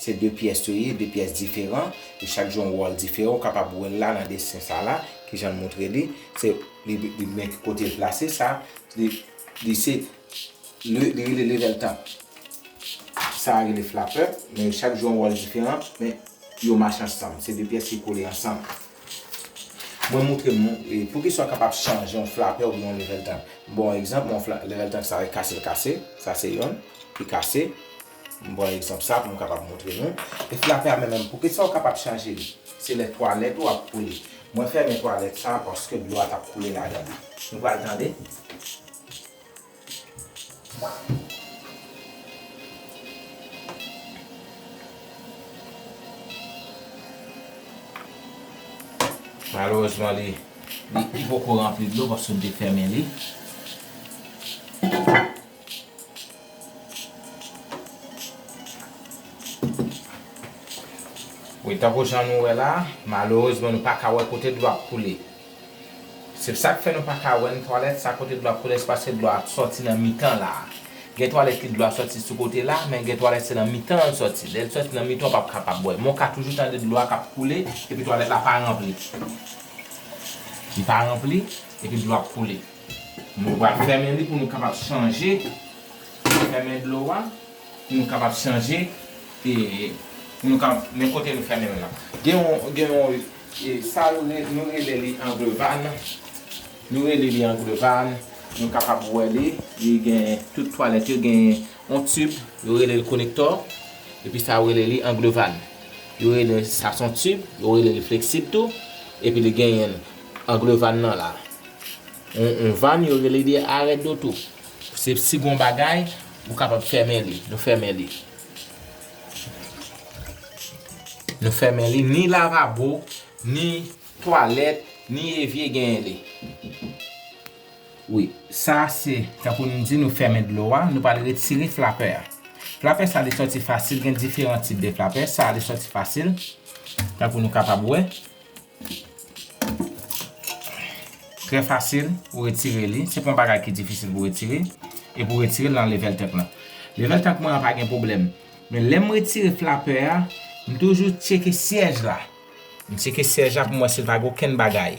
Se 2 pyès yo ye, 2 pyès diferan, e chak jwe yon wòl diferan, ou kapab wèl la nan desen sa la, kijan l montre li, se li men ki kote l plase sa, li se li rele level top, sa a rele flapè, men yo chak jwe yon wòl diferan, men yo mache ansanm, se 2 pyès ki kole ansanm. Mwen montre nou poukisa ou kapab chanje yon flapè oubyen yon level top. M ba w egzanp, level top sa li kase l kase, sa se yonn ki kase. M pran egzanp sa pou m kapab montre nou. E fi a fè a men menm. Poukisa ou kapab chaje li? Se lè twalèt ou ap koule. Mwen fèmen twalèt sa paske dlo a t ap koule ladan l. Nou pral tande. Malerezman li li poko ranpli dlo paske m te fèmen li. Wi tankou jan nou wè la, malerezman nou paka wè kote dlo ap koule. Se sak fè nou paka wè nan twalèt sa kote dlo ap koule se paske dlo a sòti nan mitan la. Gen twalèt ki dlo a sòti sou kote la, men gen twalèt se nan mitan an l sòti. Lè l sòti nan mitan ou pap kapab wè. Men w ka toujou tande dlo a kap koule epi twalèt la pa ranpli. Li pa ranpli epi dlo ap koule. Nou pral fèmen li pou nou kapab chanje fèmen dlo a pou nou kapab chanje e pou nou kapab men kote nou fèmen l la gen yon gen yon e sa yo rele nou rele li anglevann nou rele li anglevann nou kapab wè li li gen tout twalèt yo gen yon tib yo rele l konektò epi sa yo rele li anglevann yo rele sa s on tib yo rele li fleksib tou epi li genyen Angle van nan la. Yon van yo rele li arrêt d'auto. Se si gon bagay, ou kapab fèmen li. Nou fèmen li. Nou fèmen li. Ni lavabo, ni twalèt, ni evye genyen li. Wi. Sa se, tankou nou di, nou fèmen dlo a. Nou pral retire flapè a. Flapè sa li sòti fasil. Gen diferan tip de flapè. Sa li sòti fasil. Tankou nou kapab wè. Trè fasil ou retire li, se pa yon bagay ki difisil pou retire, e pou retire l nan level tank lan. Level tank mwen an pa gen pwoblèm, men lè m retire flapè a, m toujou tcheke syèj la. M tcheke syèj la pou m wè si l pa gen okenn bagay.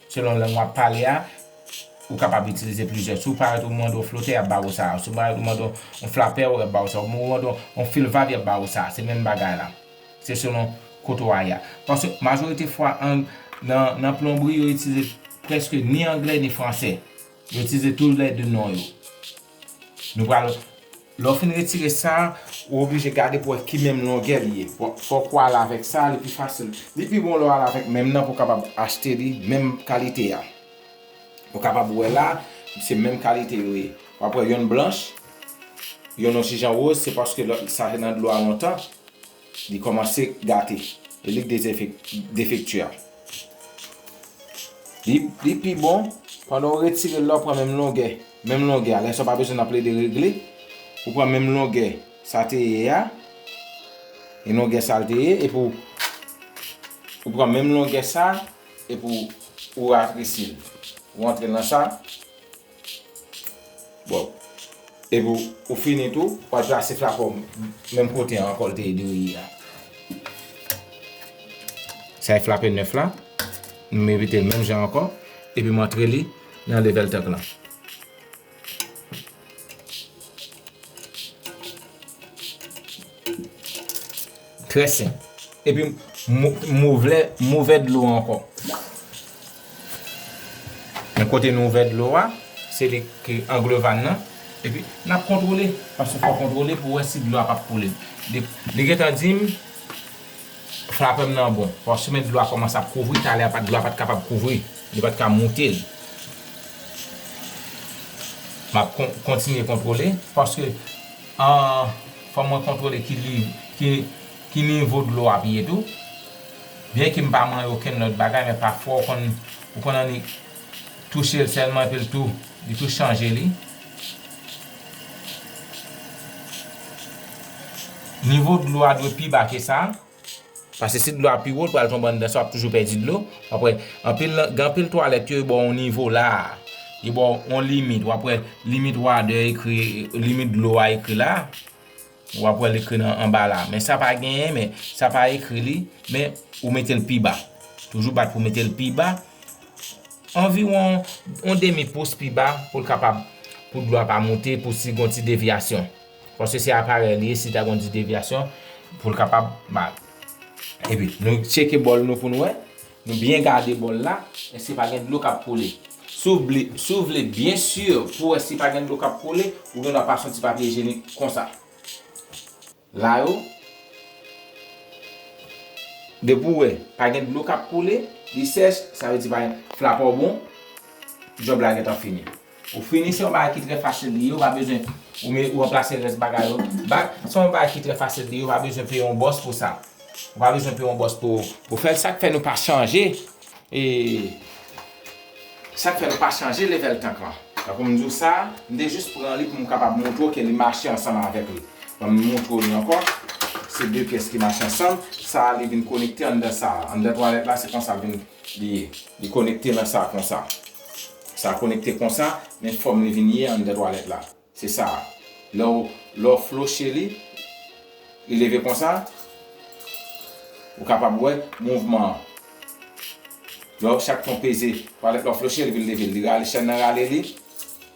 Selon lang wap pale a, ou kapab itilize plizyè. Si w parèt ou mande yon flotè, y ap ba ou sa a. Si w parèt ou mande yon flapè, y ap ba ou sa a. Ou mande yon filvab, y ap ba ou sa a. Se menm bagay la. Se selon kote w a ye a. Paske majorite fwa nan plonbri yo itilize prèske ni angle ni franse. Yo itilize tou lè de non yo. Nou pral. Lè w fin retire sa, ou oblije gade pou wè ki menm longè li ye. Fòk ou al avèk sa, li pi fasil. Li pi bon lè w al avèk menm nan pou w kapab achte li menm kalite a. Ou kapab wè la, se menm kalite yo ye. W ap wè yonn blanch, yonn yon ti jan woz, se paske lòt sa te nan dlo a lontan. Li kòmanse gate e li defekti a. Li pi bon pandan ou retire l la ou pran menm longè, menm longè a. Lè sa ou pa bezwen nan plede regle. Ou pran menm longè sa te ye a. E longè sa l te ye epi ou ou pran menm longè sa epi ou ratresi l. Ou antre l nan sa. Bon. Epi ou fini tou, w'al plase flakon menm kote an ankò l te ede w ye a. Sa e flape nèf la. M repete l menm jan ankò. Epi m antre li nan level tank lan. Trè sen. Epi m ouvè m ouvè dlo an ankò. Men kote nou ouvè dlo a, se li ki anglevann nan. Epi n ap kontwole. Paske fò w kontwole pou w wè si dlo a pap koule. Li gentan di m flapè m nan bon. Paske men dlo a kòmanse ap kouvri. Talè a dlo a pa t kapab kouvri. Li pa t ka moute l. M ap kontinye kontwole. Paske An fò mwen kontwole ki liv, ki ki nivo dlo ap ye tou. Byen ke m pa manyen okenn lòt bagay men pafwa ou konn ou konn annik touche l sèlman epi l tou li tou chanje li. Nivo dlo a dwe pi ba ke sa. Pase si dlo a pi wo, l pral tonbe anndan sa, w ap toujou pèdi dlo. Wap wè, anpil nan, gen anpil twalèt yo, yo ba w yon nivo la a. Yo ba w yon limit. Wap wè, limit wadè ekri, limit dlo a ekri la a. Wap wè l ekri nan anba la a. Men sa pa genyen, men sa pa ekri li. Men ou mete l pi ba. Toujou bat pou w mete l pi ba. Anviwon yon demi pous pi ba pou l kapab, pou dlo a pa monte, pou si gen yon ti devyasyon. Paske se aparèy li ye si ta gen yon ti devyasyon pou l kapab mal. Epi nou tcheke bòl nou pou nou wè. Nou byen gade bòl la èske pa gen dlo k ap koule. Si w vle byen si pou wè si pa gen dlo k ap koule, ou gendwa pase yon ti papye ijenik konsa. La yo, depi ou wè pa gen dlo k ap koule, li sèch, sa vle di pa gen, flapè w bon, jòb la gentan fini. Ou fini se yon bagay ki trè fasil li ye ou pa bezwen ou me ou ranplase rès bagay yo back se yon bagay ki trè fasil li ye ou pa bezwen peye yon bòs pou sa ou pa bezwen peye yon bòs pou pou fèl sak fè nou pa chanje e sak fè nou pa chanje level tank lan tankou m di w sa m te jis pran li pou m kapab montre w ke li mache ansanm avèk li banm montre w li ankò se 2 pyès ki mache ansanm sa li vin konekte anndan sa anndan twalèt la se konsa l vin li ye li konekte nan sa konsa. Sa konekte konsa, men fòm li vin ye anndan twalèt la. Se sa a. Lè w lè w floche li, li leve konsa, ou kapab wè mouvman an. Lè w chak fè yon peze twalèt la w floche li vin leve l. Li rale chèn nan rale li,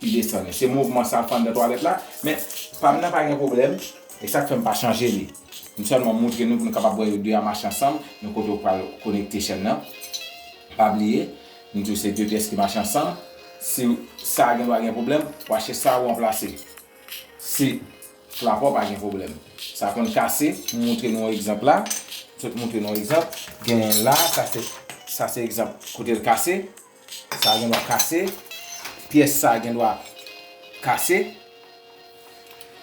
li desann li. Se mouvman sa l fè anndan twalèt la. Men, pa m nan pa gen pwoblèm. E sa k fè m pa chanje li. M sèlman montre nou pou nou kapab wè yo de a mache ansanm, men kote w pral konekte chèn nan. Pa bliye, Nou di w se 2 pyès ki mache ansanm, si sa a gen dwa gen pwoblèm, w a chèche sa a ranplase. Si plafò pa gen pwoblèm, sa konn kase, m montre nou yon egzanp la, m sot montre nou yon egzanp, genyen la, sa se sa se egzanp kote l kase, sa a gen dwa kase, pyès sa a gen dwa kase,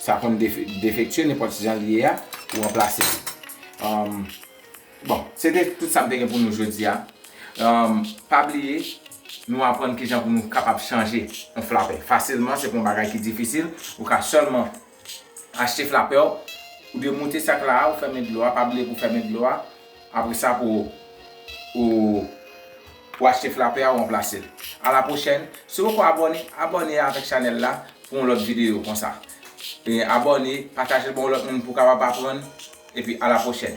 sa konn defektye nenpòt jan l ye a, ou ranplase li. Bon, se te tout sa m te gen pou nou jodi a. Pa bliye, nou aprann kijan pou nou kapab chanje yon flapè fasilman, se pa yon bagay ki difisil. Ou ka sèlman achte flapè w, ou demoute sak la a, ou fèmen dlo a, pa bliye pou w fèmen dlo a, apre sa pou ou achte flapè a, ou ranplase l. A la pwochèn, si w poko abòne, abòne avèk chanèl la pou yon lòt videyo konsa. Abòne, pataje l ba yon lòt moun pou w kapab aprann, epi a la pwochèn.